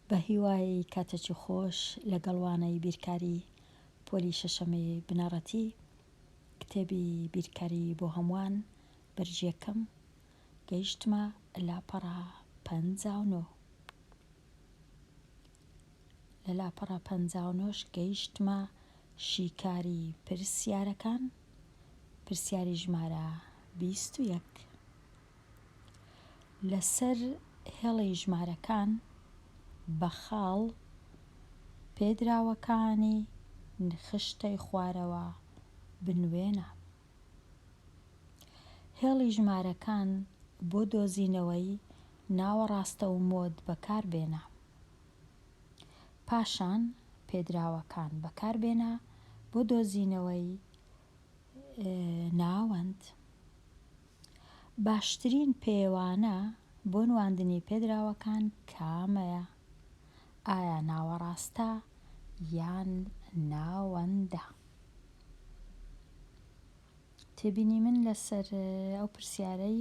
بەهیوای کاتێکی خۆش لەگەڵ وانەی بیرکاری پۆلی شەشەمی بنەڕەتی کتێبی بیرکاری بۆ هەمووان بەرگیەکەم گەیشتمە لاپەڕە پەنجا و نۆ لە لاپەڕە پەنجا و نۆش گەیشتمە شیکاری پرسیارەکان پرسیاری ژمارە بیست و یەک لەسەر هێڵی ژمارەکان بە خاڵ پێدراوەکانی خشتەی خوارەوە بنوێنە. هێڵی ژمارەکان بۆ دۆزینەوەی ناوە ڕاستە و مۆد بەکاربێنە. پاشان پێدراوەکان بەکاربێنە بۆ دۆزینەوەی ناوەند. باشترین پێوانە بۆ نواندنی پێدراوەکان کامەیە؟ ئایا ناوەڕاستە یان ناوەندە؟ تێبینی من لەسەر ئەو پرسیارەی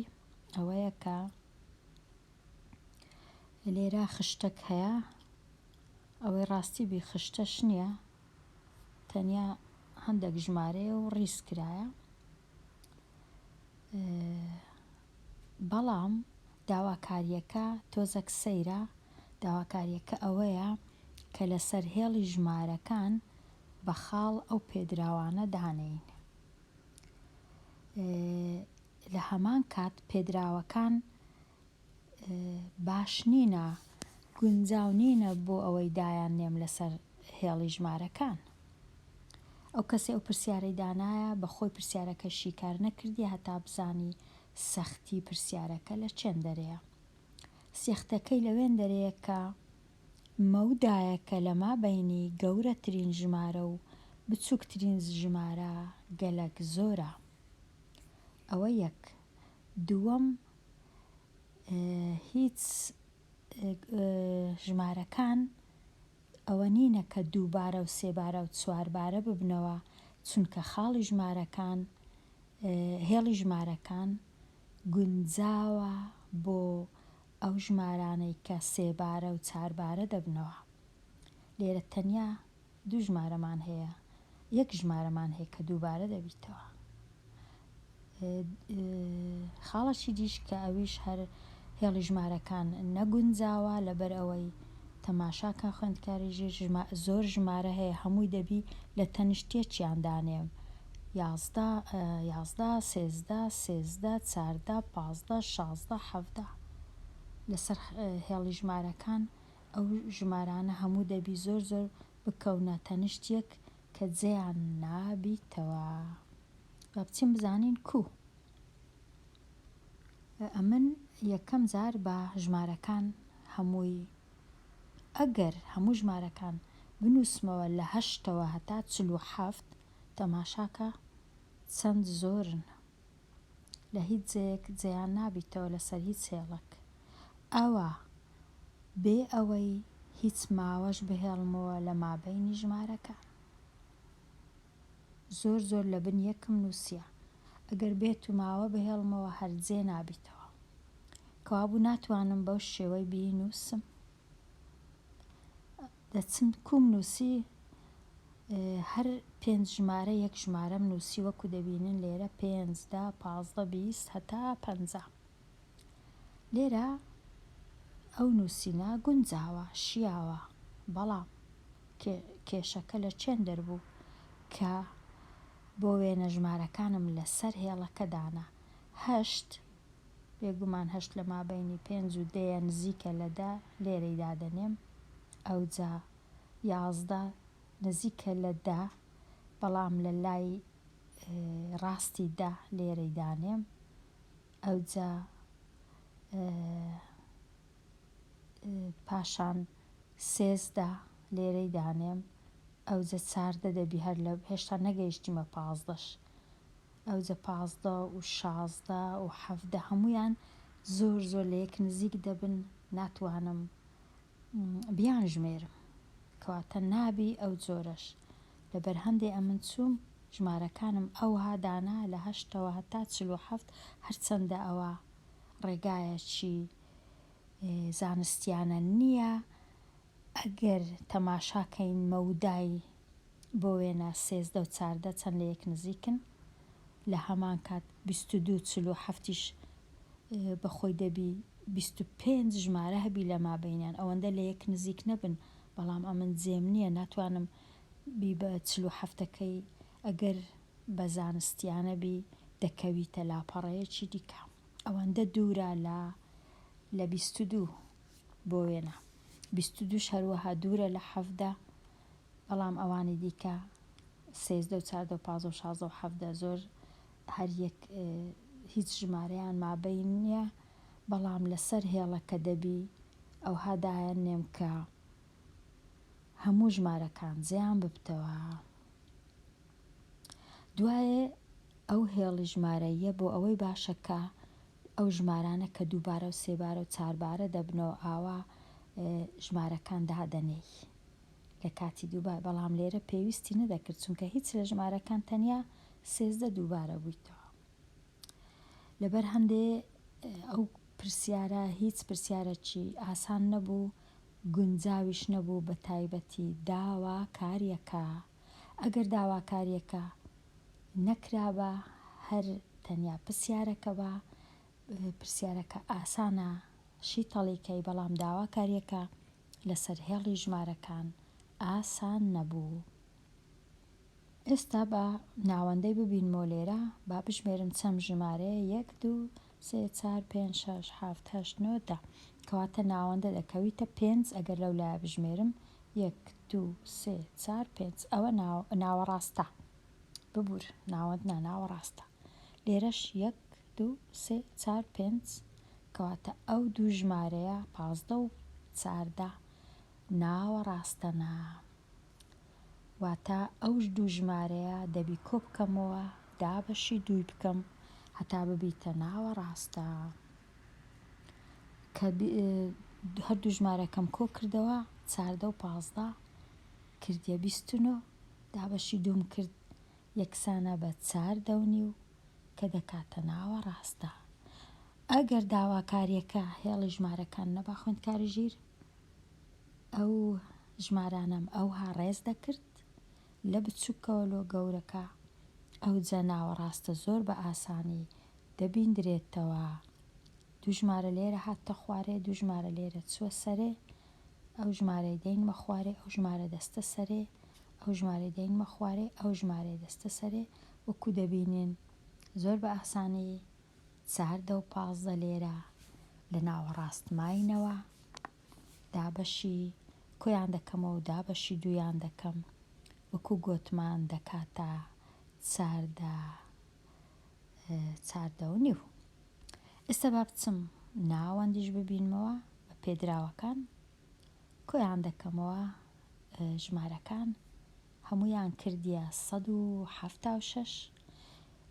ئەوەیە کە لێرە خشتەک هەیە ئەوەی ڕاستی بی خشتەش نییە تەنیا هەندێک ژمارەیە و ڕیز کرایە بەڵام داواکارییەکە تۆزەک سەیرە، داواکارییەکە ئەوەیە کە لەسەر هێڵی ژمارەکان بە خاڵ ئەو پێدراوانە دانێین. لە هەمان کات پێدراوەکان باش نینە، گونجاو نینە بۆ ئەوەی دایان نێم لەسەر هێڵی ژمارەکان. ئەو کەسەی ئەو پرسیارەی دانایە بە خۆی پرسیارەکە شیکار نەکردیە هەتا بزانی سەختی پرسیارەکە لە چێن دەرێیە. سێختەکەی لەوێن دەرێیە کە مەو دایەکە لە مابەینی گەورەترین ژمارە و بچوکترین ژمارە گەلەک زۆرە. ئەوە یەک. دووەم، هیچ ژمارەکان ئەوە نینە کە دووبارە و سێبارە و چواربارە ببنەوە، چونکە خاڵی ژمارەکان، هێڵی ژمارەکان گونجاوە بۆ ئەو ژمارانەی کە سێبارە و چاربارە دەبنەوە. لێرە تەنیا. دوو ژمارەمان هەیە یەک ژمارەمان هەیە کە دووبارە دەبیتەوە خاڵە چی دیش کە ئەویش هەر هێڵی ژمارەکان نەگونجاوە لەبەر ئەوەی تەماشاکە خوێندکاری ژێر ژما زۆر ژمارە هەیە هەمووی دەبی لە تەنیشتێکیان دانێم یازدە یازدە سێزدە سێزدە چاردە پازدە شازدە حەفدە لەسەر هێڵی ژمارەکان ئەو ژمارانە هەموو دەبی زۆر زۆر بکەونە تەنشت یەک کە جێیان نابیتەوە با بچین بزانین کو ئەمن یەکەم جار بە ژمارەکان هەمووی ئەگەر هەموو ژمارەکان بنووسمەوە لە هەشتەوە هەتا چل و حەفت تەماشاکە چەند زۆرن لە هیچ جێیەک جێیان نابیتەوە لەسەر هیچ هێڵەک ئەوە بێ ئەوەی هیچ ماوەش بهێڵمەوە لە مابەینی ژمارەکان زۆر زۆر لە بن یەکم نووسیە ئەگەر بێت و ماوە بهێڵمەوە هەر جێ نابیتەوە کەوابوو ناتوانم بەو شێوەی بینووسم لە چنکوم نووسی هەر پێنج ژمارە یەک ژمارەم نووسی وەکو دەبینن لێرە پێنج دە پازدە بیست هەتا پەنجا لێرە ئەو نووسینە گونجاوە شیاوە بەڵام کێشەکە لە چێن دەربوو کە بۆ وێنە ژمارەکانم لەسەر هێڵەکە دانا هەشت بێگومان هەشت لە مابەینی پێنج و دەیە نزیکە لە دە، لێرەی دادەنێم. ئەوجا یازدە نزیکە لە دە، بەڵام لە لای ڕاستی دە، لێرەی دانێم. ئەوجا پاشان سێزدە، لێرەی دانێم. ئەوجا چاردە دەبی هەر لە، هێشتا نەگەیشتیمە پازدەش. ئەوجە پازدە و شازدە و حەڤدە هەموویان زۆر زۆر لە یەک نزیک دەبن ناتوانم بیانژمێرم کەواتە نابی ئەو جۆرەش لەبەر هەندێ ئەمن چووم ژمارەکانم ئەوها دانا لە هەشتەوە هەتا چل و حەفت هەرچەندە ئەوە ڕێگایەکی زانستیانە نییە ئەگەر تەماشا کەین مەودای بۆ وێنە سێزدە و چاردە چەند لە یەک نزیکن؟ لە هەمان کات بیست و دوو و چل و حەفتیش بە خۆی دەبی بیست و پێنج ژمارە هەبی لە مابەینیان ئەوەندە لە یەک نزیک نەبن بەڵام ئەمن جێم نییە ناتوانم بی بە چل و حەفتەکەی ئەگەر بە زانستیانە بی دەکەویتە لاپەڕەیەکی دیکە ئەوەندە دوورە لە لە بیست و دوو بۆ وێنە بیست و دووش هەروەها دوورە لە حەڤدە بەڵام ئەوانی دیکە سێزدە و چاردە و پازە و شازە و حەڤدە زۆر هەر یەک هیچ ژمارەیان مابەین نیە بەڵام لەسەر هێڵە کە دەبی ئەوها دایان نێم کە هەموو ژمارەکان زیان ببتەوە دوایێ ئەو هێڵی ژمارەیە بۆ ئەوەی باشە کە ئەو ژمارانە کە دووبارە و سێبارە و چاربارە دەبنەوە ئاوا ژمارەکان دادەنێی لە کاتی دووبار بەڵام لێرە پێویستی نەدەکرد چونکە هیچ لە ژمارەکان تەنیا سێزدە دووبارە بویتەوە لەبەر هەندێ ئەو پرسیارە هیچ پرسیارەکی ئاسان نەبوو گونجاویش نەبوو بە تایبەتی داوا کاریەکە ئەگەر داواکاریەکە نەکرابا هەر تەنیا پرسیارەکە بە پرسیارەکە ئاسانە شیتەڵی کەی بەڵام داوا کاریەکە لەسەر هێڵی ژمارەکان ئاسان نەبوو. ئێستا با ناوەندەی ببینمەوە لێرە، با بژمێرم چەند ژمارەیە، یەک، دوو، سێ، چوار، پێنج، شەش، حەفت، هەشت، نۆ، دە. کەواتە ناوەندە دەکەویتە پێنج، ئەگەر لەو لایە بژمێرم، یەک، دوو، سێ، چوار، پێنج. ئەوە ناوەڕاستە. ببوور، ناوەند نا، ناوەڕاستە. لێرەش یەک، دوو سێ چار پێنج کەواتە ئەو دوو ژمارەیە پازدە و چاردە ناوەڕاستە نا واتا ئەو دوو ژمارەیە دەبی کۆ بکەمەوە دا بەشی دووی بکەم هەتا ببیتە ناوەڕاستە کە هەر دوو ژمارەکەم کۆ کردەوە چاردە و پازدە کردە بیست و نۆ دا بەشی دووم کرد یەکسانە بە چار دەونی و کە دەکاتە ناوەڕاستدا. ئەگەر داواکارییەکە هێڵی ژمارەکان نەبا خوێندکاری ژیر ئەو ژمارانەم ئەوها ڕێز دەکرد لە بچوکەوە لۆ گەورەکە ئەوجە ناوەڕاستە زۆر بە ئاسانی دەبیندرێتەوە دوو ژمارە لێرە هاتتە خوارێ دوو ژمارە لێرە چووە سەرێ ئەو ژمارەی دەینمە خوارێ ئەو ژمارە دەستە سەرێ ئەو ژمارەی دەینمە خوارێ ئەو ژمارەی دەستە سەرێ وەکو دەبینین زۆر بە ئاسانی چاردە و پازدە لێرە لە ناوەڕاست ماینەوە، دابەشی کۆیان دەکەمەوە و دابەشی دوویان دەکەم، وەکو گۆتمان دەکاتە چاردە چاردە و نیو. ئێستا با بچم ناوەندیش ببینمەوە بە پێدراوەکان کۆیان دەکەمەوە ژمارەکان هەموویان کردیە سەد و حەفتا و شەش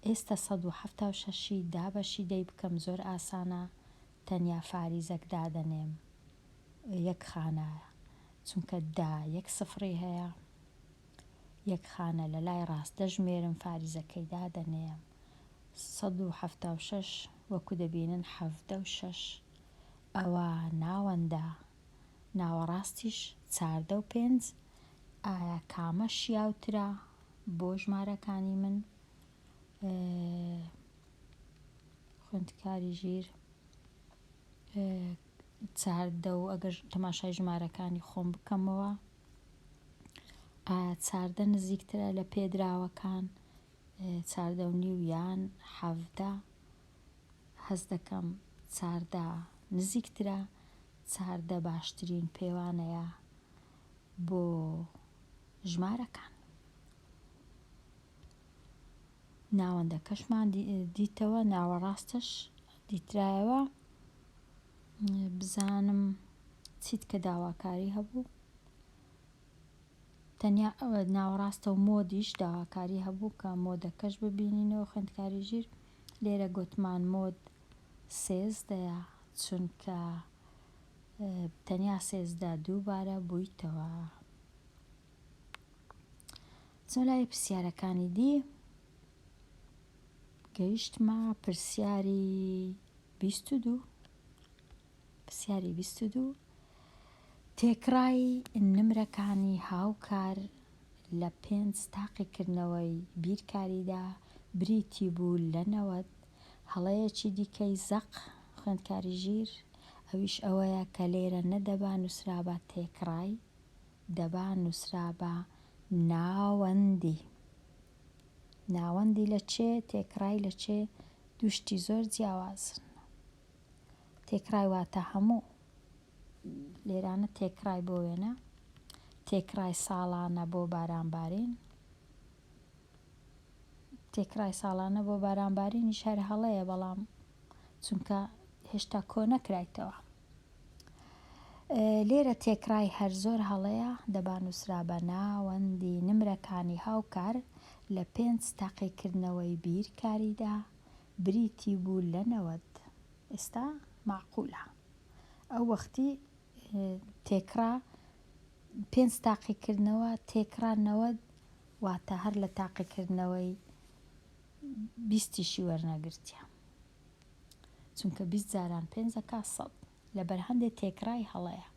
ئێستە سەد و حەفتا و شەشی دابەشی دەی بکەم زۆر ئاسانە تەنیا فاریزەک دادەنێم یەک خانە چونکە دا یەک سفڕی هەیە یەک خانە لە لای ڕاست دەژمێرم فاریزەکەی دادەنێم سەد و حەفتا و شەش وەکو دەبینن حەڤدە و شەش ئەوا ناوەندە ناوەڕاستیش چاردە و پێنج ئایا کامە شیاوترە بۆ ژمارەکانی من خوێندکاری ژیر چاردە و ئەگەر تەماشای ژمارەکانی خۆم بکەمەوە چاردە نزیکترە لە پێدراوەکان چاردە و نیویان حەڤدە هەست دەکەم چاردە نزیکترە چاردە باشترین پێوانەیە بۆ ژمارەکان. ناوەندەکەشمان دیتەوە ناوەڕاستەش دیترایەوە بزانم چیت کە داواکاری هەبوو. تەنیا ناوەڕاستە و مۆدیش داواکاری هەبوو کە مۆدەکەش ببینینەوە خوێندکاری ژیر لێرە گۆتمان مۆد سێزدەیە چونکە تەنیا سێزدە دووبارە بوویتەوە چۆن لای پرسیارەکانی دی گەیشتمە پرسیاری بیست و دوو پرسیاری بیست و دوو، تێکڕای نمرەکانی هاوکار لە پێنج تاقیکردنەوەی بیرکاریدا بریتی بوو لە نەوەد، هەڵەیەکی دیکەی زەق، خوێندکاری ژیر، ئەویش ئەوەیە کە لێرە نەدەبا نووسرابا تێکڕای، دەبا نووسرابا ناوەندی. ناوەندی لە چێ؟ تێکڕای لە چێ؟ دوو شتی زۆر جیاوازن. تێکڕای واتە هەموو. لێرانە تێکڕای بۆ وێنە. تێکڕای ساڵانە بۆ بارانبارین. تێکڕای ساڵانە بۆ بارانبارینیش هەر هەڵەیە بەڵام چونکە هێشتا کۆ نەکرایتەوە. لێرە تێکڕای هەر زۆر هەڵەیە دەبا نووسرا بە ناوەندی نمرەکانی هاوکار لە پێنج تاقیکردنەوەی بیرکاریدا بریتی بوو لە نەوەد ئێستا مەعقولە ئەو وەختی تێکڕا پێنج تاقیکردنەوە تێکڕا نەوەد واتە هەر لە تاقیکردنەوەی بیستیشی وەرنەگرتیە چونکە بیست جاران پێنج ئەکا سەد لەبەر هەندێ تێکڕای هەڵەیە.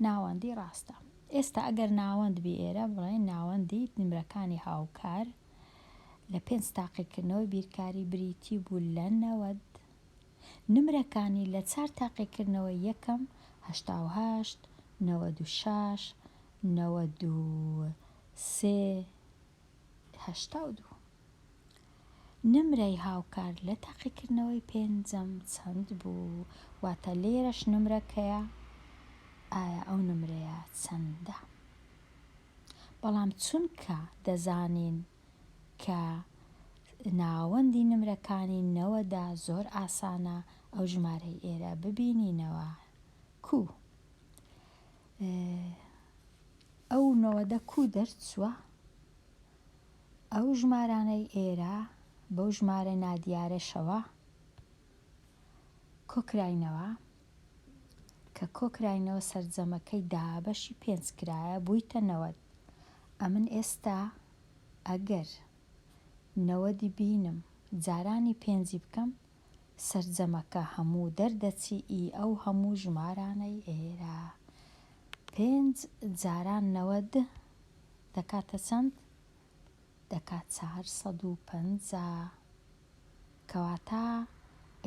ناوەندی ڕاستە. ئێستا ئەگەر ناوەند بی ئێرە بڵێین ناوەندی نمرەکانی هاوکار لە پێنج تاقیکردنەوەی بیرکاری بریتی بوو لە نەوەد نمرەکانی لە چار تاقیکردنەوەی یەکەم هەشتا و هەشت نەوەد و شەش نەوەد و سێ هەشتا و دوو. نمرەی هاوکار لە تاقیکردنەوەی پێنجەم چەند بوو؟ واتە لێرەش نمرەکەیە ئایا ئەو نمرەیە چەندە؟ بەڵام چونکە دەزانین کە ناوەندی نمرەکانی نەوەدا زۆر ئاسانە ئەو ژمارەی ئێرە ببینینەوە کوو ئەو نەوەدە کوو دەرچووە؟ ئەو ژمارانەی ئێرە بەو ژمارە نادیارەشەوە کۆکراینەوە کە کۆکراینەوە سەرجەمەکەی دابەشی پێنج کرایە بوویتە نەوەد ئەمن ئێستا ئەگەر نەوەدی بینم جارانی پێنجی بکەم سەرجەمەکە هەموو دەردەچیی ئەو هەموو ژمارانەی ئێرە پێنج جاران نەوەد دەکاتە چەند؟ دەکا چار سەد و پەنجا. کەواتە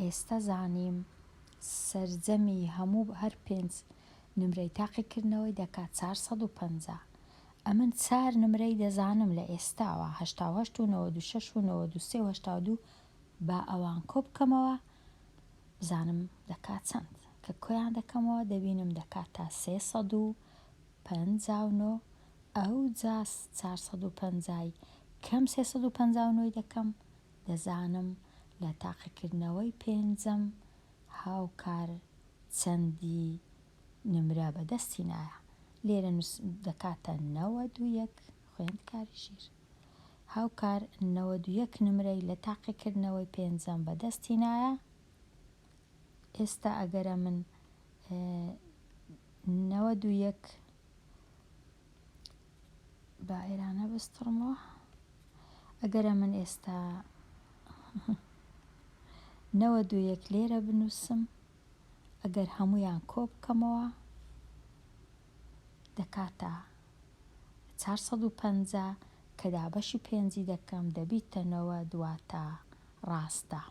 ئێستە زانیم سەرجەمی هەموو هەر پێنج نمرەی تاقیکردنەوەی دەکا چار سەد و پەنجا. ئەمن چار نمرەی دەزانم لە ئێستاوە هەشتا و هەشت و نەوەد و شەش و نەوەد و سێ و هەشتا و دوو با ئەوان کۆ بکەمەوە بزانم دەکات چەند. کە کۆیان دەکەمەوە دەبینم دەکات تا سێ سەد و پەنجا و نۆ، ئەوجا چار سەد و پەنجا ی کەم سێ سەد و پەنجا و نۆ ی دەکەم، دەزانم لە تاقیکردنەوەی پێنجەم هاوکار چەندی نمرە بەدەستی نایە. لێرە دەکاتە نەوەد و یەک. خوێندکاری ژیر هاوکار نەوەد و یەک نمرەی لە تاقیکردنەوەی پێنجەم بەدەست هینایە ئێستا ئەگەر ئەمن نەوەد و یەک با ئێرانە بستڕمەوە ئەگەر ئەمن ئێستا نەوەد و یەک لێرە بنووسم ئەگەر هەموویان کۆ بکەمەوە دەکاتە چوار سەد و پەنجا کە دابەشی پێنجی دەکەم دەبیتە نەوەد واتە ڕاستە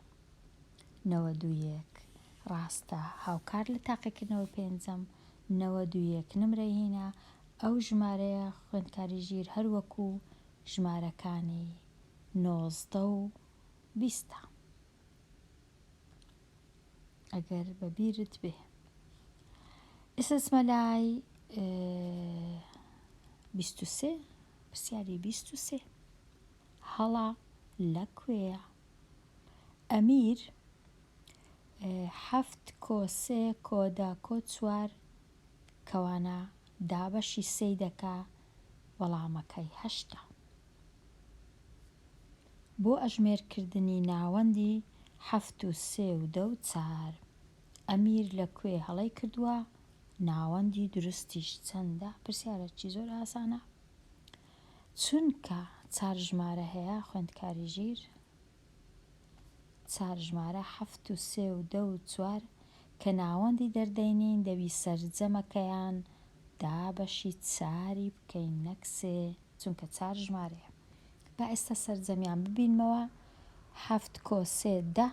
نەوەد و یەک ڕاستە هاوکار لە تاقیکردنەوەی پێنجەم نەوەد و یەک نمرەی هینا ئەو ژمارەیە خوێندکاری ژیر هەر وەکوو ژمارەکانی نۆزدە و بیستە. ئەگەر بە بیرت بێ ئێسس مەلای بیست و سێ پرسیاری بیست و سێ هەڵا لە کوێیە ئەمیر حەفت کۆ سێ کۆ دە کۆ چوار کەوانە دابەشی سێی دەکا وەڵامەکەی هەشتە. بۆ ئەژمێر کردنی ناوەندی حەفت و سێ و دە و چار ئەمیر لە کوێ هەڵەی کردووە ناوەندی دروستیش چەندە؟ پرسیارەکی زۆر ئاسانە چونکە چار ژمارە هەیە خوێندکاری ژیر. چار ژمارە حەفت و سێ و دە و چوار کە ناوەندی دەردەینین دەبی سەرجەمەکەیان دا بەشی چاری بکەین نەک سێ چونکە چار ژمارەیە با ئێستا سەرجەمیان ببینمەوە حەفت کۆ سێ دە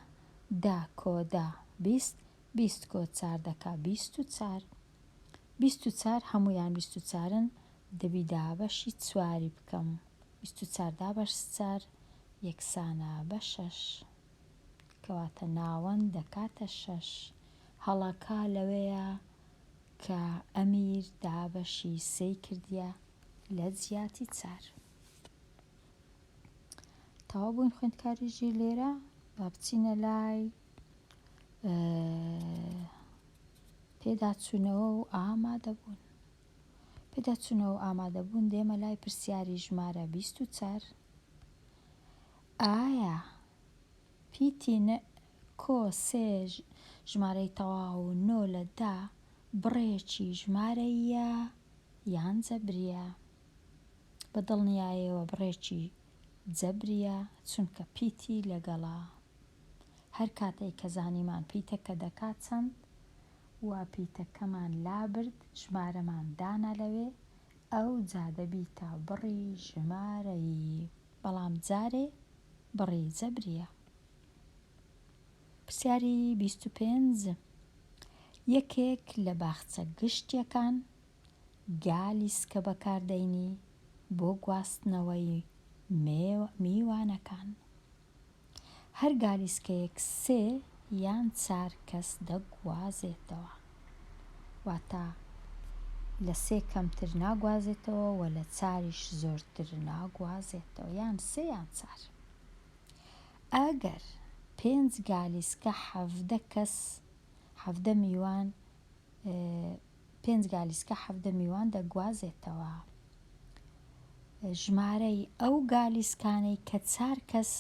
دە کۆ دە بیست بیست کۆ چار دەکا بیست و چار بیست و چار هەموویان بیست و چارن دەبی دابەشی چواری بکەم بیست و چار دا بە چار یەکسانە بە شەش کەواتە ناوەند دەکاتە شەش. هەڵەکە لەوەیە کە ئەمیر دابەشی سێی کردیە لە جیاتی چار. تەواو بووین خوێندکاری ژیر لێرە با بچینە لای پێداچوونەوە و ئامادەبوون. پێداچوونەوە و ئامادەبوون دێمە لای پرسیاری ژمارە بیست و چار، ئایا پیتی نئ کۆ سێ ژمارەی تەواو و نۆ لە دە بڕێکی ژمارەییە یان جەبرییە؟ بە دڵنیایەوە بڕێکی جەبرییە چونکە پیتی لەگەڵە. هەر کاتێک کە زانیمان پیتەکە دەکات چەند، وا پیتەکەمان لابرد ژمارەمان دانا لەوێ ئەوجا دەبیتە بڕی ژمارەیی بەڵام جارێ بڕی جەبریە. پرسیاری بیست و پێنج یەکێک لە باخچە گشتیەکان گالی سکە بەکاردەینی بۆ گواستنەوەی میوانەکان هەر گالیسکەیەک سێ یان چار کەس دەگوازێتەوە، واتە لە سێ کەمتر ناگوازێتەوە و لە چاریش زۆرتر ناگوازێتەوە، یان سێ یان چار. ئەگەر پێنج گالیسکە حەڤدە کەس، حەڤدە میوان، پێنج گالیسکە حەڤدە میوان دەگوازێتەوە. ژمارەی ئەو گالیسکانەی کە چار کەس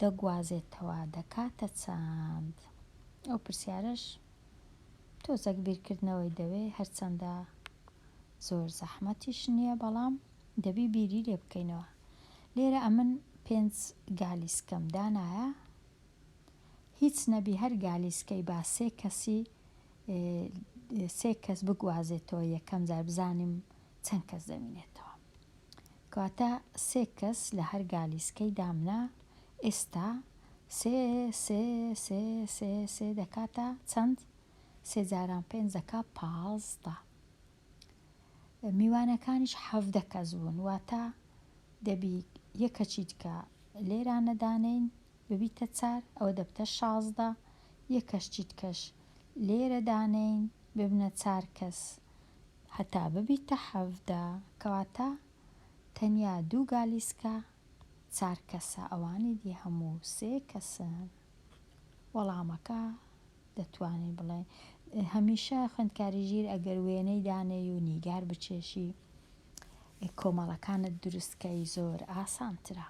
دەگوازێتەوە دەکاتە چەند؟ ئەو پرسیارەش تۆزەک بیرکردنەوەی دەوێ، هەرچەندە زۆر زەحمەتیش نییە، بەڵام دەبی بیری لێ بکەینەوە. لێرە ئەمن پێنج گالیسکەم دانایە، هیچ نەبی هەر گالیسکەی با سێ کەسی سێ کەس بگوازێتەوە یەکەم جار بزانیم چەند کەس دەمینێتەوە کەواتە سێ کەس لە هەر گالیسکەی دامنا ئێستا سێ سێ سێ سێ سێ دەکاتە چەند سێ جاران پێنج دەکا پازدە میوانەکانیش حەڤدە کەس بوون واتە دەبی یەکەچیت کە لێرانەدانین ببیتە چار ئەوە دەبتە شازدە یەکەش چیتکەش لێرە دانێین ببنە چار کەس هەتا ببیتە حەڤدە کەواتە تەنیا دوو گالیسکە چار کەسە ئەوانی دی هەموو سێ کەسن وەڵامەکە دەتوانین بڵێین هەمیشە خوێندکاری ژیر ئەگەر وێنەی دانێی و نیگار بچێشی کۆمەڵەکانت دروستکەی زۆر ئاسانترە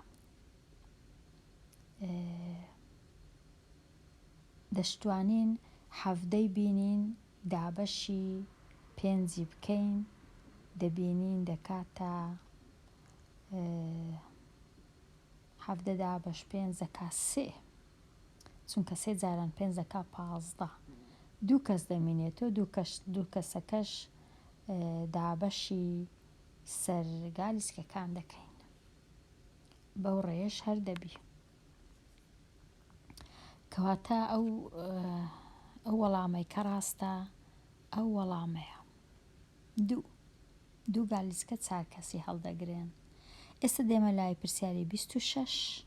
دەشتوانین حەڤدەی بینین دابەشی پێنجی بکەین دەبینین دەکاتە حەڤدە دابەش پێنج دەکا سێ چونکە سێ جاران پێنج دەکا پازدە دوو کەس دەمینێتۆ دوو کەسەکەش دابەشی سەرگالیسکەکان دەکەین بەو ڕێیەش هەر دەبی کەواتە ئەو ئەو وەڵامەی کە ڕاستە ئەو وەڵامەیە دوو دوو گالیسکە چار کەسی هەڵدەگرێن ئێستا دێمە لای پرسیاری 26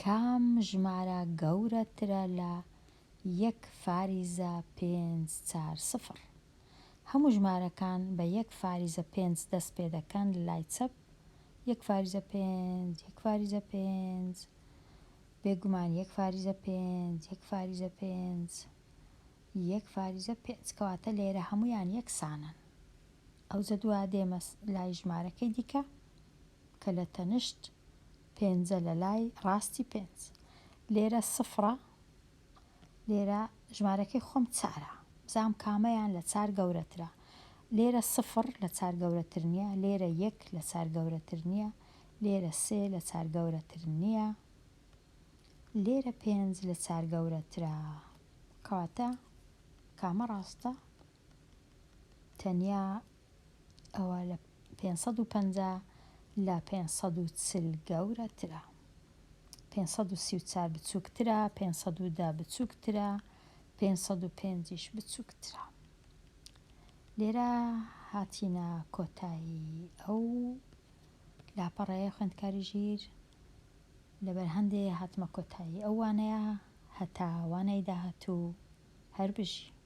کام ژمارە گەورەترە لە یەک فاریزە پێنج چار سفر هەموو ژمارەکان بە یەک فاریزە پێنج دەست پێ دەکەن لە لای چەپ یەک فاریزە پێنج یەک فاریزە پێنج بێگومان یەک فاریزە پێنج یەک فاریزە پێنج یەک فاریزە پێنج کەواتە لێرە هەموویان یەکسانن ئەوجە دوا دێمە لای ژمارەکەی دیکە کە لە تەنشت پێنجە لە لای ڕاستی پێنج. لێرە سفڕە لێرە ژمارەکەی خۆم چارە بزانم کامەیان لە چار گەورەترە لێرە سفڕ لە چار گەورەتر نییە لێرە یەک لە چار گەورەتر نییە لێرە سێ لە چار گەورەتر نییە لێرە پێنج لە چار گەورەترە کەواتە کامە ڕاستە؟ تەنیا ئەوە لە پێنج سەد و پەنجا لە پێنج سەد و چل گەورەترە. پێنج سەد و سی و چوار بچووکترە، پێنج سەد و دە بچووکترە، پێنج سەد و پێنجیش بچووکترە. لێرە هاتینە کۆتایی ئەو لاپەڕەیە خوێندکاری ژیر، لەبەر هەندێ هاتمە کۆتایی ئەو وانەیە، هەتا وانەی داهاتوو هەر بژی.